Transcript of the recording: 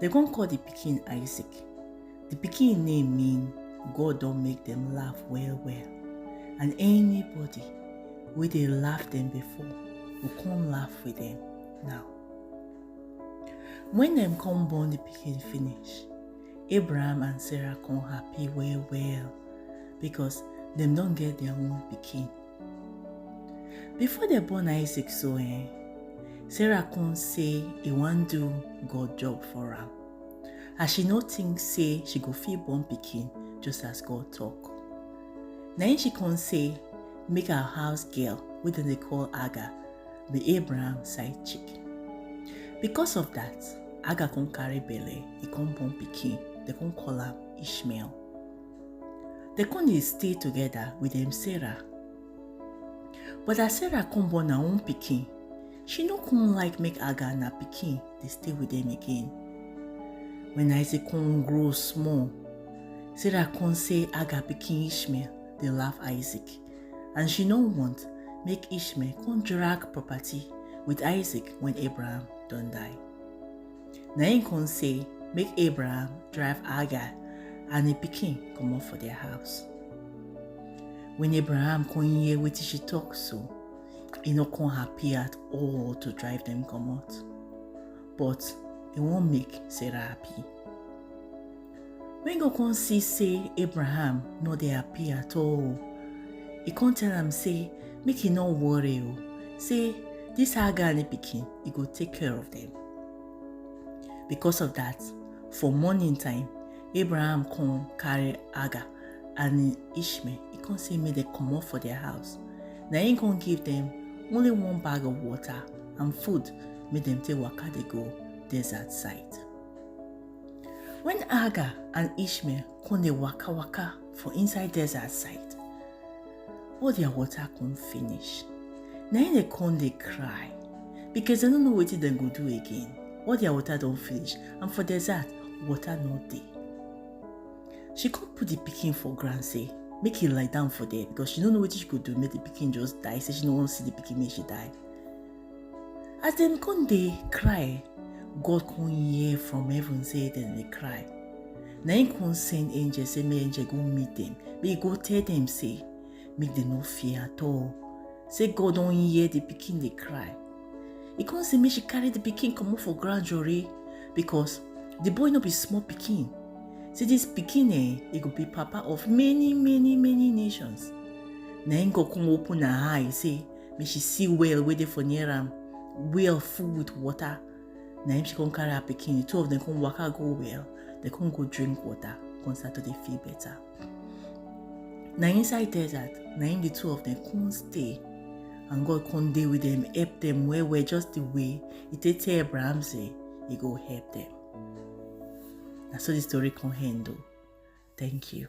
Dem come call the pikin Isaac. The pikin name mean God don make them laugh well well. And anybody wey dey laugh them before go come laugh with them now. When dem come born the pikin finish, Abraham and Sarah come happy well well because dem don get their own pikin. Before dem born Isaac so eh, Sarah come say e wan do God job for am as she no think say she go fit born pikin just as God talk. Na im she come say make her house girl wey dem dey call Aga be Abraham side chick. Because of that, Aga come carry belle, e come born pikin, dem come call am Ishmael. dem come dey stay together with dem sarah but as sarah come born her own pikin she no come like make aga and her pikin dey stay with dem again when isaac come grow small sarah come say aga pikin ishmael dey laugh isaac and she no want make ishmael come drag property with isaac when abraham don die na im come say make abraham drive hagar and im pikin comot for their house when abraham come hear wetin she talk so e no come happy at all to drive dem comot but e wan make sarah happy When God come see say Abraham no dey happy at all, he come tell am say make he no worry o, say this Hagar and the pikin, he go take care of them. Because of that, for morning time, Abraham come carry Hagar and Ishmael, he come say make dem comot for their house. Na him come give them only one bag of water and food make dem take waka dey go desert side. When Hagar and Ishmael come dey waka waka for inside desert side, all their water come finish. Na im dey come dey cry because dem no know wetin dem go do again. All their water don finish and for desert, water no dey. She come put the pikin for ground say make e lie down for there because she no know wetin she go do make the pikin just die. Say she no wan see the pikin make she die. as dem come dey cry god come hear from heaven say dem dey cry na him come send angel say make angel go meet dem make he go tell dem say make dem no fear at all say god don hear the pikin dey cry he come say make she carry the pikin comot for ground jore because the boy no be small pikin say this pikin eh e go be papa of many many many nations na him go come open her eye say make she see well wey dey for near am well full with water na him she come carry her pikin the two of them come waka go well they come go drink water come start to dey feel better na inside desert na him the two of them come stay and god come dey with them help them well well just the way he take tell abraham say he go help them na so the story come end o thank you.